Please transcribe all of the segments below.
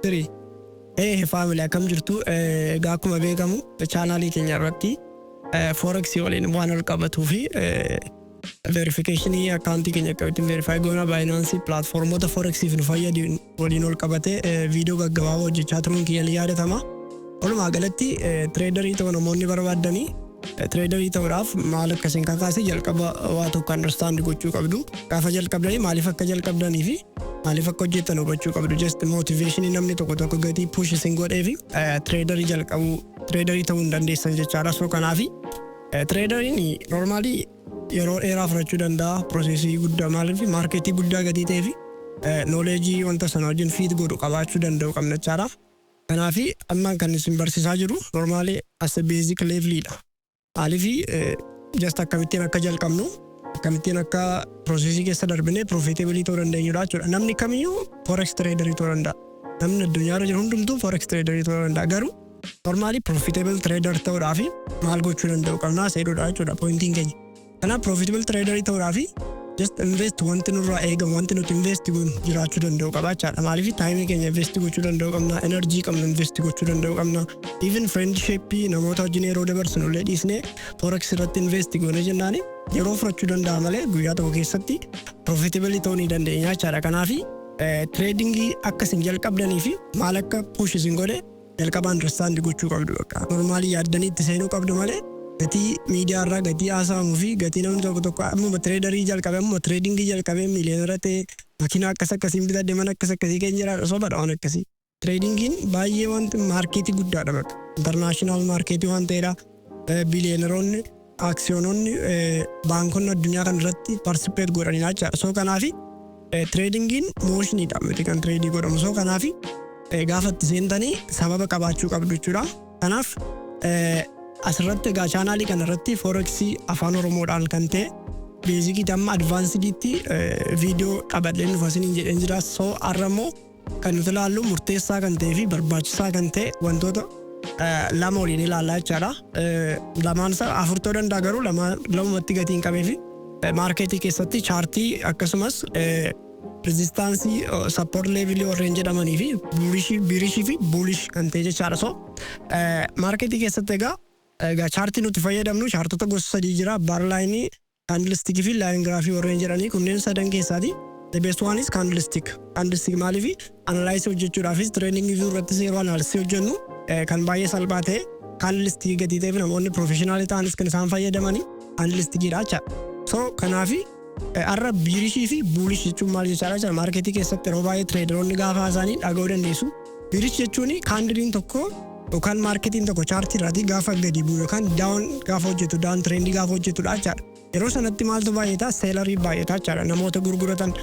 Three. Hey family akkam jirtu Eh, egaa akkuma beekamu chaanaalii keenya irratti eh, forex waliin waan wal qabatuu fi verification akkaawuntii keenya akkamitti verify goona baayinaansi platformoota forexiif nu fayyadu waliin ol qabatee viidiyoo gaggabaabaa hojjechaa turuun kiyya ni yaadatama. Walumaa galatti tireedarii ta'uu namoonni barbaaddanii tireedarii ta'uudhaaf maal akka isin kakaase jalqaba waa tokko understand gochuu qabdu. Gaafa jalqabdanii maaliif akka jalqabdanii fi maaliif akka hojjettan hubachuu qabdu. Just motiveeshinii namni tokko tokko gatii push isin godhee fi tireedarii jalqabuu tireedarii ta'uu hin dandeessan jechaadha. So kanaafi tireedariin normaalii yeroo dheeraa fudhachuu danda'a processii guddaa maaliif market guddaa gatii ta'eef knowledge wanta sana wajjin fit godhu qabaachuu danda'u qabna jechaadha. Kanaaf amma kan isin barsiisaa jiru normally as a basic level dha. Maaliif just akkamittiin akka jalqabnu akkamittiin akka processii keessa darbinee profitabilii ta'uu dandeenyudha jechuudha. Namni kamiyyuu forex trader ta'uu danda'a. Namni addunyaarra jiru hundumtuu forex trader ta'uu danda'a garuu Normally profitable trader ta'uudhaafi maal gochuu danda'u qabnaa seedhuudha jechuudha pointiin keenya. Kanaaf profitable trader ta'uudhaafi just invest wanti nurraa eegamu wanti nuti invest goonu jiraachuu danda'u qaba jechaadha. Maaliif taayimii keenya invest gochuu danda'u qabna, energy qabnu invest gochuu danda'u qabna. Even friendship namoota wajjin yeroo dabarsinu illee dhiisnee forex irratti invest goone jennaan yeroo fudhachuu danda'a malee guyyaa tokko keessatti profitable ta'uu ni dandeenya jechaadha. Kanaaf trading akka isin jalqabdanii fi maal akka push isin godhe jalqaba understand gochuu qabdu bakka normally yaaddanii itti seenuu qabdu malee gatii miidiyaa irraa gatii haasa'amu fi gatii namni tokko tokko ammuma traderii jalqabe ammuma trading jalqabe miiliyoonera ta'e makiinaa akkas akkasiin bitadhe mana akkas akkasii keenya jiraadha sobadha waan akkasii tradingiin baay'ee wanti maarkeetii guddaadha bakka international maarkeetii waan ta'eedha biiliyeeneroonni aksiyoononni baankonni addunyaa kana irratti participate godhaniidha jechaadha. So kanaafi tradingiin motioniidha miti kan tradii godhamu. So kanaafi gaafa itti seentanii sababa qabaachuu qabdu jechuudha. Kanaaf asirratti egaa chaanaalii kana irratti foreksii afaan oromoodhaan kan ta'e beezikii damma advaansidiitti viidiyoo qabadheen dhufa isiniin jedheen jira. So har'a immoo Kan nuti ilaallu murteessaa kan ta'ee fi barbaachisaa kan ta'e wantoota lama waliin ilaallaa jechaadha. Lamaan isaa afur ta'uu danda'a garuu lamumatti gatii hin qabee fi maarkeetii keessatti chaartii akkasumas rizistaansii sappoort leevilii warreen jedhamanii fi biirishii fi buulish kan ta'e jechaadha. So maarkeetii keessatti egaa egaa chaartii nuti fayyadamnu chaartota gosa sadii jira baarlaayinii Kaandilistikii fi laayin giraafii warreen jedhanii kunneen sadan keessaati. The best one is candlestick. Candlestick maaliifi analysis hojjechuudhaafis trading view irrattis yeroo analysis hojjennu kan baay'ee salphaa ta'e candlestick gatii ta'eef namoonni professional ta'anis kan isaan fayyadamani candlestickidha jecha. So kanaafi har'a biirishii fi buulish jechuun maal jechaadha jecha maarketii keessatti yeroo baay'ee traderoonni gaafa haasa'anii dhaga'uu dandeessu. Birish jechuun kaandiliin tokko yookaan maarketiin tokko chaartii irraatii gaafa gadi bu'u yookaan daawon gaafa hojjetu daawon tireendii gaafa hojjetudha jechaadha. Yeroo sanatti maaltu baay'ata seelarii baay'ata jechaadha. Namoota gurguratan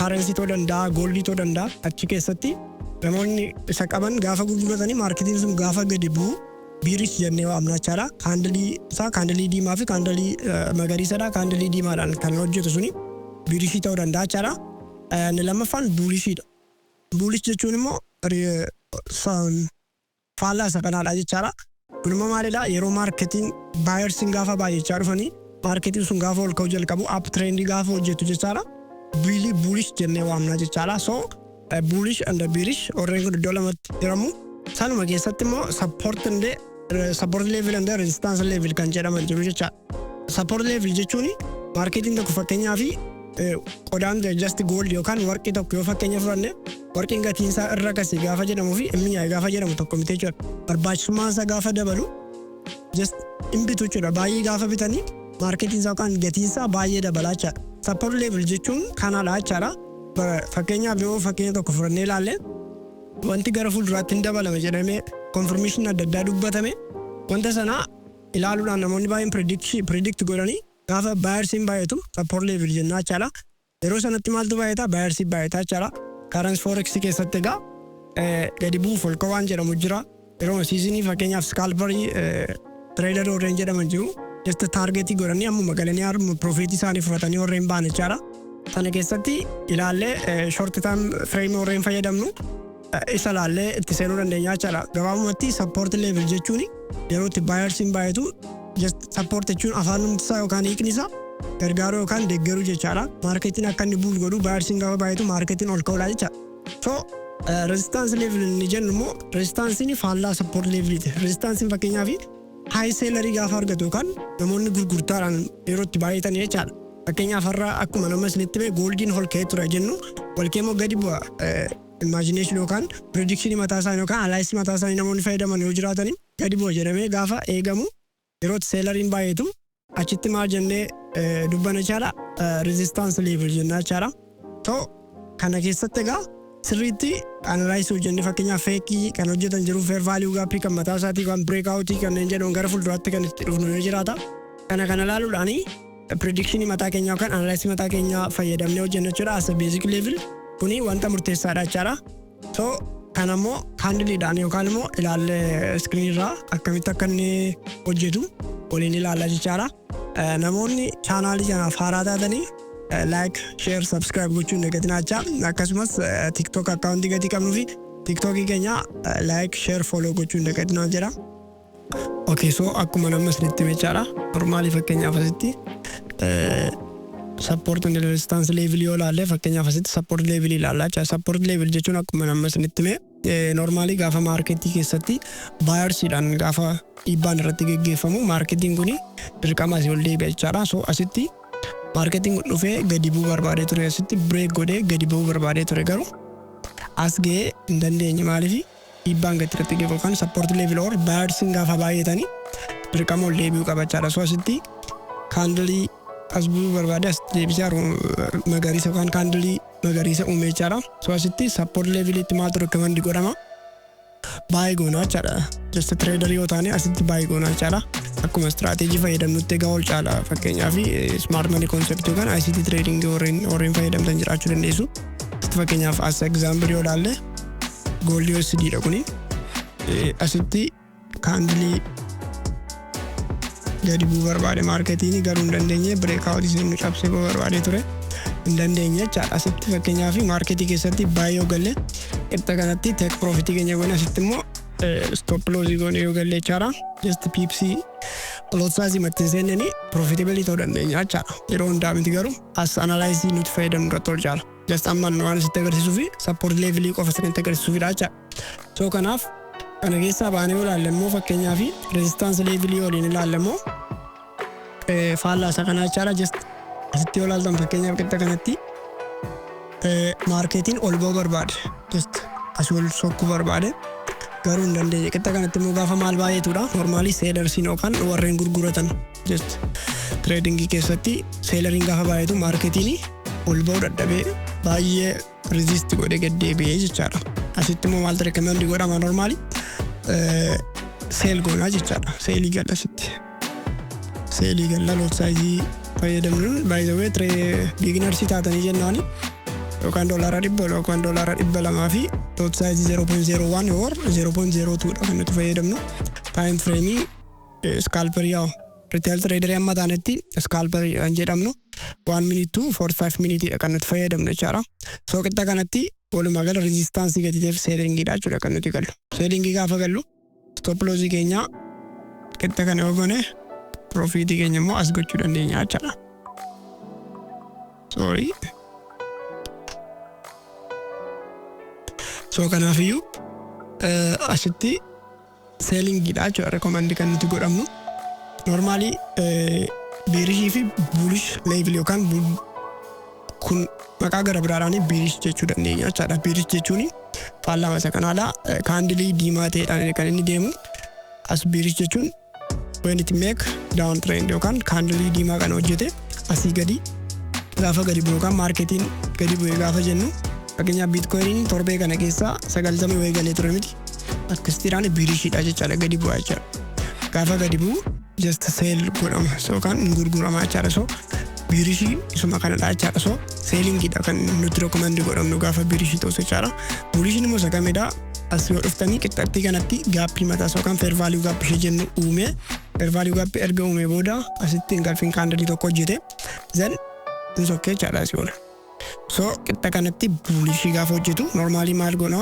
kaarensii ta'uu danda'a gooldii ta'uu danda'a achi keessatti namoonni isa qaban gaafa gurguratanii maarketiin sun gaafa gadi bu'u biirish jennee waamna jechaadha. Kaandilii isaa kaandilii diimaa fi kaandilii magariisadha kaandilii diimaadhaan kan hojjetu suni biirishii ta'uu danda'a jechaadha. Inni lammaffaan buulishiidha. Bullish jechuun immoo faallaa isa kanaadha jechaadha. Kun immoo maalidha? Yeroo maarketiin baayersiin gaafa baay'achaa dhufanii maarketiin sun gaafa ol ka'uu jalqabu app trendii gaafa hojjetu jechaadha. Biilii bullish jennee waamnaa jechaadha. So bullish and bearish warreen kun iddoo lamatti hiramu. Sanuma keessatti immoo support and support level and resistance level kan jedhaman jiru jechaadha. Support level jechuun maarkeetiin tokko fakkeenyaa fi qodaan just gold yookaan warqii tokko yoo fakkeenya fudhanne warqiin gatiin isaa irra kasi gaafa jedhamu fi inni yaa'e gaafa jedhamu tokko miti jechuudha. Barbaachisummaan isaa gaafa dabalu just hin bitu jechuudha. Baay'ee gaafa bitanii maarkeetiin isaa yookaan gatiin isaa baay'ee dabalaa jechaadha. Support level jechuun kanaadha jechaadha. Fakkeenyaaf yoo fakkeenya tokko fudhannee ilaalle wanti gara fuulduraatti hin dabalame jedhamee konfirmeeshinii adda addaa dubbatame wanta sanaa ilaaluudhaan namoonni baay'een predict predict godhani gaafa buyersiin baay'atu support level jennaa jechaadha. Yeroo sanatti maaltu baay'ata buyersii baay'ata jechaadha. Currency forex keessatti egaa eh, gadi bu'u folka waan jedhamu jira. Yeroo seasonii fakkeenyaaf scalperii eh, trader warreen jedhaman jiru. Just targetii godhanii ammuma galanii harma profit isaanii fudhatanii warreen ba'an jechaadha. Sana keessatti ilaallee eh, short term frame warreen fayyadamnu isa laallee itti seenuu dandeenya jechaadha. Gabaabumatti support level jechuun yeroo itti baayarsiin baay'atu support jechuun afaan numti isaa yookaan hiikni isaa gargaaruu yookaan deeggaruu jechaadha. Maarketiin akka inni buul godhu baayarsiin gaafa baay'atu maarketiin ol ka'uudha jecha. So resistance level inni jennu immoo resistansiin faallaa support leveliiti. Resistansiin fakkeenyaaf high seelarii gaafa argatu yookaan namoonni gurgurtaadhaan yeroo itti baay'atan jechaadha. Fakkeenyaaf har'a akkuma nama isinitti mee gooldiin ol ka'ee ture jennu ol ka'ee immoo gadi bu'a. Imagination yookaan prediction mataa isaanii yookaan analysis mataa isaanii namoonni fayyadaman yoo jiraatanii gadi bu'a jedhamee gaafa eegamu yeroo itti seelariin baay'eetu achitti maal jennee dubbana jechaadha resistance level jennaa jechaadha. Too kana keessatti egaa sirriitti analysis hojjennee fakkeenyaaf feekii kan hojjetan jiru fair value gaappii kan mataa isaatii kan breakout kanneen jedhaman gara fuulduraatti kan itti dhufnu yoo jiraata. Kana kana ilaaluudhaanii Prediction mataa keenyaa yookaan analysis mataa keenyaa fayyadamnee hojjenna jechuudha as a basic level kuni wanta murteessaadha jechaadha. So kan ammoo handiliidhaan yookaan immoo ilaallee screen irraa akkamitti akka inni hojjetu waliin ilaalla jechaadha. Eh, Namoonni chaanaalii kanaaf haaraa taatanii eh, like, share, subscribe gochuun dagatinaa jechaa akkasumas eh, TikTok akkaawuntii gatii qabnuu fi TikTokii keenya eh, like, share, follow gochuun dagatinaa jedha. Okay so akkuma namni isinitti hime jechaadha. Normaalii fakkeenyaaf asitti support and resistance level yoo ilaalle fakkeenyaaf asitti support level ilaalla jechaadha. Support level jechuun akkuma namni isinitti hime normaalii gaafa maarketii keessatti baayarsiidhaan gaafa dhiibbaan irratti geggeeffamu maarketiin kun dirqama asii ol deebi'a jechaadha. So asitti maarketiin kun dhufee gadi bu'uu barbaadee ture asitti break godhee gadi bu'uu barbaadee ture garuu as ga'ee hin dandeenye maaliifi Dhiibbaan gatii irratti ga'u yookaan support level or buyersin gaafa baay'atani dirqama ol deebi'uu qaba jechaadha. So asitti kaandilii as bu'uu barbaade as deebisee haru magariisa yookaan kaandilii magariisa uume jechaadha. So asitti support leveliitti maaltu recommend godhama? Baay'ee goonaa jechaadha. Just trader yoo taane asitti baay'ee goonaa jechaadha. Akkuma strategy fayyadamnutti egaa ol caala fakkeenyaaf smart money concept yookaan ICT trading warreen warreen fayyadamtan jiraachuu dandeessu. Fakkeenyaaf as example yoo ilaalle Goolli USD dha kuni. Eh, Asitti kaandilii gadi bu'uu barbaade maarketiin garuu hin dandeenye breakout isin cabsee bu'uu barbaade ture. Hin dandeenye jechaadha. Asitti fakkeenyaaf maarketii keessatti baay'ee yoo galle qixxa kanatti tek piroofitii keenya goone asitti immoo stop loss goone yoo galle jechaadha. Just piipsii lot size matti hin seennanii profitability ta'uu dandeenya jechaadha. Yeroo hundaa miti garuu as analyzii nuti fayyadamnu irratti ol jaala. just amma waan sitti agarsiisuu fi support level qofa sanitti agarsiisuufidha jecha so kanaaf kana keessaa baanee yoo ilaalle immoo fakkeenyaa fi resistance level yoo waliin ilaalle immoo eh, faallaa isa kanaa jechaadha just asitti yoo ilaaltan fakkeenyaaf qixa kanatti eh, maarkeetiin ol ba'uu barbaade just asii ol sokkuu barbaade garuu hin dandeenye qixa kanatti immoo gaafa maal baay'eetudha normaalii seedarsiin yookaan warreen gurguratan Just trading keessatti seelariin gaafa baay'atu maarketiin ol ba'uu dadhabee baay'ee resist godhee gad deebi'ee jechaadha. Asitti immoo maaltu recommend godhama normaali seel goonaa jechaadha. Seelii galla asitti. Seelii galla lot saayizii fayyadamnuun by the way tree beginnersii taatanii jennaani yookaan doolaara dhibba yookaan doolaara dhibba lamaa fi lot saayizii 0.01 or 0.02 dha kan nuti fayyadamnu. Time frame scalper yaw retail trader amma taanetti scalper kan jedhamnu one minute to 45 minute dha kan nuti fayyadamnu jechaadha. So qixa kanatti walumaa gala resistance gatiitiif selling dha jechuudha kan nuti gallu. Selling gaafa gallu stop loss keenya qixa kana yoo goone profit keenya immoo as gochuu dandeenya jechaadha. Sorry. So kanaafiyyuu asitti selling dha jechuudha recommend kan nuti godhamnu normally bearish fi bullish level yookaan kun maqaa gara biraadhaan bearish jechuu dandeenya jechaadha bearish jechuun faallama isa kanaadha kaandilii diimaa ta'eedhaan kan inni deemu as bearish jechuun when it make down trend yookaan kaandilii diimaa kana hojjete asii gadi gaafa gadi bu'u yookaan maarketiin gadi bu'e gaafa jennu fakkeenyaaf biitkoyiniin torbee kana keessaa sagaltamii wayii galee ture miti Akkasitiidhaan biirishiidha jechaadha gadi bu'aa jechaadha. Gaafa gadi bu'u just sale godhama so kan hin gurgurama jechaadha so biirishii isuma kanadha jechaadha so seelingiidha kan nuti rekomandi godhamnu gaafa biirishii ta'us jechaadha. Buurishiin immoo isa kamidha as yoo dhuftanii qixxattii kanatti gaappii mataa so kan fair value gap ishee jennu uume fair value gap erga uume booda asitti hin galfin kaandalii tokko hojjete zan hin sokkee jechaadha asii oola. So qixxa kanatti bulishii gaafa hojjetu normaalii maal goona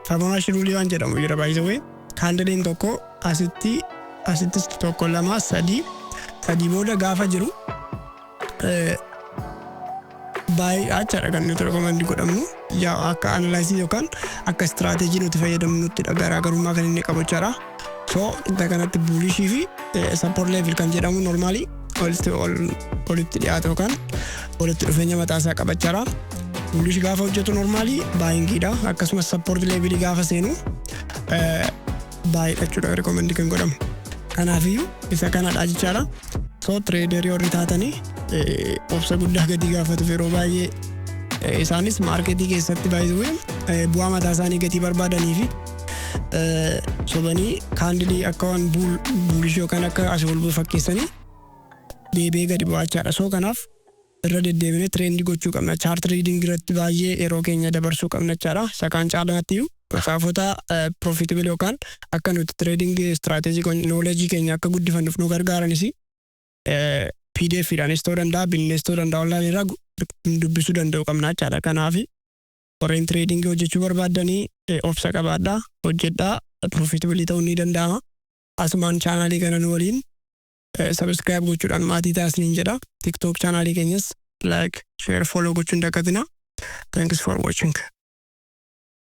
Fibonacci ruulii waan jedhamu jira by the way kaandiliin tokko asitti asittis tokko lama sadii sadii booda gaafa jiru baay'ee achaadha kan nuti rekomandi godhamnu. 6 akka analysis yookaan akka strategy nuti fayyadamnuttidha garaagarummaa kan inni qabu jechaadha. So inta kanatti bullish fi support level kan jedhamu normally walitti ol walitti dhiyaata yookaan walitti dhufeenya mataa isaa qaba jechaadha. Bullish gaafa hojjetu normally buying dha akkasumas support level gaafa seenu baay'achuudha recommend kan godhamu. Kanaafiyyuu isa kanadha jechaadha. So trader warri taatanii eh, obsa guddaa gadi gaafatuuf yeroo baay'ee eh, isaanis maarketii keessatti baay'ee eh, bu'aa mataa isaanii gatii barbaadanii fi eh, sobanii kaandilii akka waan buul- buulishii yookaan akka asii ol bu'u fakkeessanii deebi'ee gadi bu'aachaadha. So kanaaf irra deddeebinee trend gochuu qabna. Chart reading irratti baay'ee yeroo keenya dabarsuu qabna jechaadha. Isa kaan caalaatti iyyuu macaafota profitable yookaan akka nuti trading strategy kun knowledge keenya akka guddifannuuf nu gargaaranis pdf dhaanis ta'uu danda'a, binnees ta'uu danda'a online irraa gu- dubbisuu danda'u qabna jechaadha. Kanaaf warreen trading hojjechuu barbaaddanii eh, obsa qabaadhaa, hojjedhaa, profitable ta'uun ni danda'ama. Asumaan chaanaalii kana nu waliin Subscribe gochuudhaan maatii ta'a isiniin jedha. TikTok chaanaalii keenyas like, share, follow gochuun dagatina. Thanks for watching.